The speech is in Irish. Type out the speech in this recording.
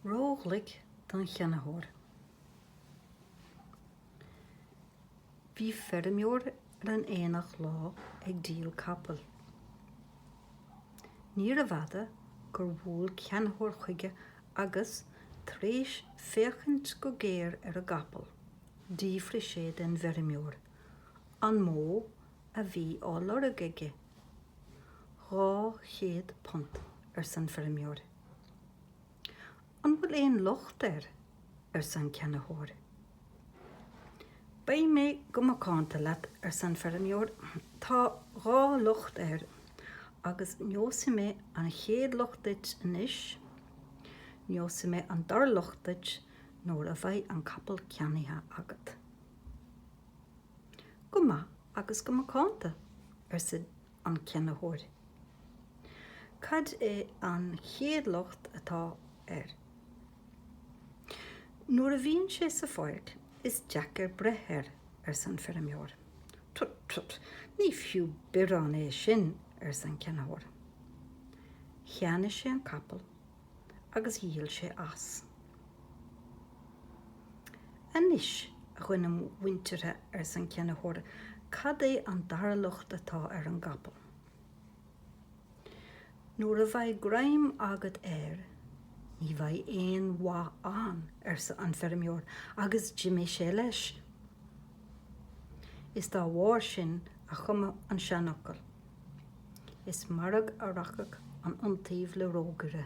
ró-ghlic don cheannaitheoir. Bhí feirmeoir ar an aonach lá ag díol capaill. Níorbh fhada gur bhuail ceannaitheoir chuige agus, tar éis féachaint go géar ar an gcapall, d'fhiafraigh sé den bhfeirmeoir an mó a bhí á lorg aige. Dhá chéad punt, arsa an feirmeoir. An bhfuil aon locht air? arsa an ceannaitheoir. Beidh mé go macánta leat, arsa an feirmeoir, tá dhá locht air, agus neosfaidh mé an chéad locht duit anois, neosfaidh mé an dara locht duit nuair a bheidh an capall ceannaithe agat. Go maith agus go macánta, arsa an ceannaitheoir. Cad é an chéad locht atá air? Nuair a bhíonn sé sa pháirc, is deacair breith air, arsa an feirmeoir. Tut, tut, ní fiú biorán é sin, arsa an ceannaitheoir. Cheannaigh sé an capall agus dhíol sé as. Anois, a dhuine mhuinteartha, arsa an ceannaitheoir, cad é an dara locht atá ar an gcapall? Nuair a bheidh greim agat air, ní bheidh aon mhaith ann, arsa an feirmeoir, agus d'imigh sé leis. Is dá bharr sin a cumadh an seanfhocal. Is mairg a rachadh an iontaoibh le rógaire.